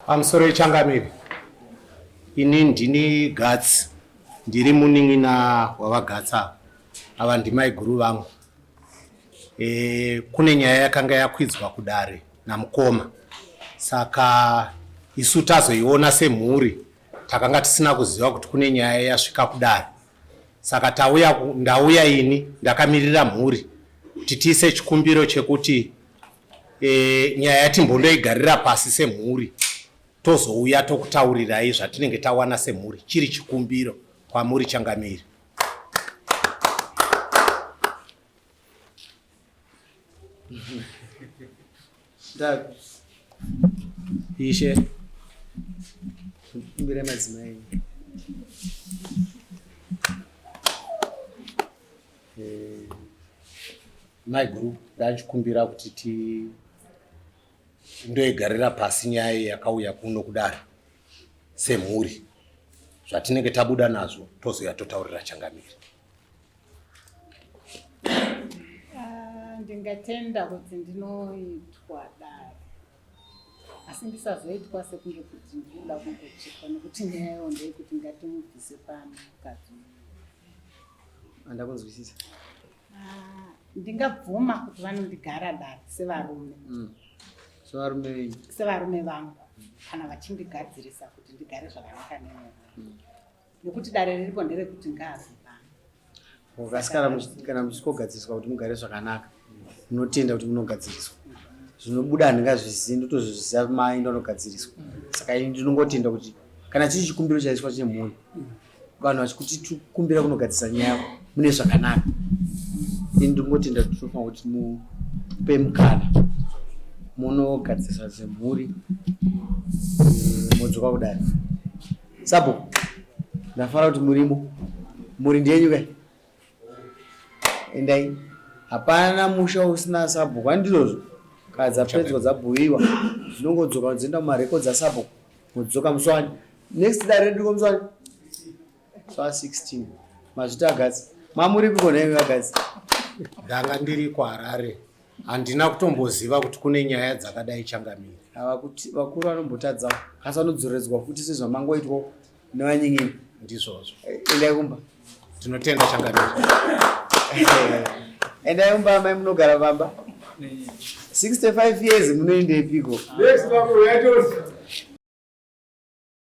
Pamusoro yechangamire, ini ndini Gatsi, ndiri munin'ina wavaGatsi ava. Ava ndimaiguru vangu. E, kune nyaya yakanga yakwidzwa kudare namukoma, saka isu tazoiona semhuri takanga tisina kuziva kuti kune nyaya yasvika kudare, saka tauya, ndauya ini ndakamirira mhuri kuti tiise chikumbiro chekuti E, nyaya yatimbondoigarira pasi semhuri tozouya tokutaurirai zvatinenge tawana semhuri chiri chikumbiro kwamuri changamiri ishe kumbira madzimai Eh, mai guru ndachikumbira kuti ti ndoigarira pasi nyaya yakauya kuno kudaro semhuri zvatinenge tabuda nazvo tozouya totaurira changamire ah, ndingatenda kuti ndinoitwa dare asi ndisazoitwa sekunge kuti ndinoda kungochekwa nekuti nyaya yayo ndeyekuti ngatimubvise pano mukadzi andakunzwisisa ah, ndingabvuma kuti vanondigara dare sevarume mm. sevarume venyu sevarume vangu kana vachindigadzirisa kuti ndigare zvakanaka nemurume mm. nekuti dare riripo nderekuti ngaazivana kana muchitikogadziriswa kuti mugare zvakanaka ndinotenda kuti munogadziriswa zvinobuda handingazvizivi ndotozviziva mai ndonogadziriswa saka ini ndinongotenda kuti kana chiri chikumbiro chaiswa chemhuri vanhu vachikuti tikumbira kunogadzisa nyaya mune zvakanaka ini ndingotenda kuti tinofanira kuti mupe mukana munogadzisa zvemhuri eh, modzoka kudai sabo ndafara kuti murimo mhuri ndenyukai endai hapana musha usina sabhuku andizvozvo kaa dzapedzwa dzabhuiwa dzinongodzoka dzoenda mumarekodzi asabhuku modzoka muswani next dare redu ko muswani swa 16 mazvita agadzi mamuripiko nhaimi vagadzi ndanga ndiri kuharare handina kutomboziva kuti kune nyaya dzakadai changamiri vakuru vanombotadzawo asi vanodzoredzwa futi sezvamangoitwa Nowanyingini. Ndizvozvo. Endai kumba. Tinotenda changamire. Endai kumba amai munogara pamba. 65 years munoendepiko? Next time we are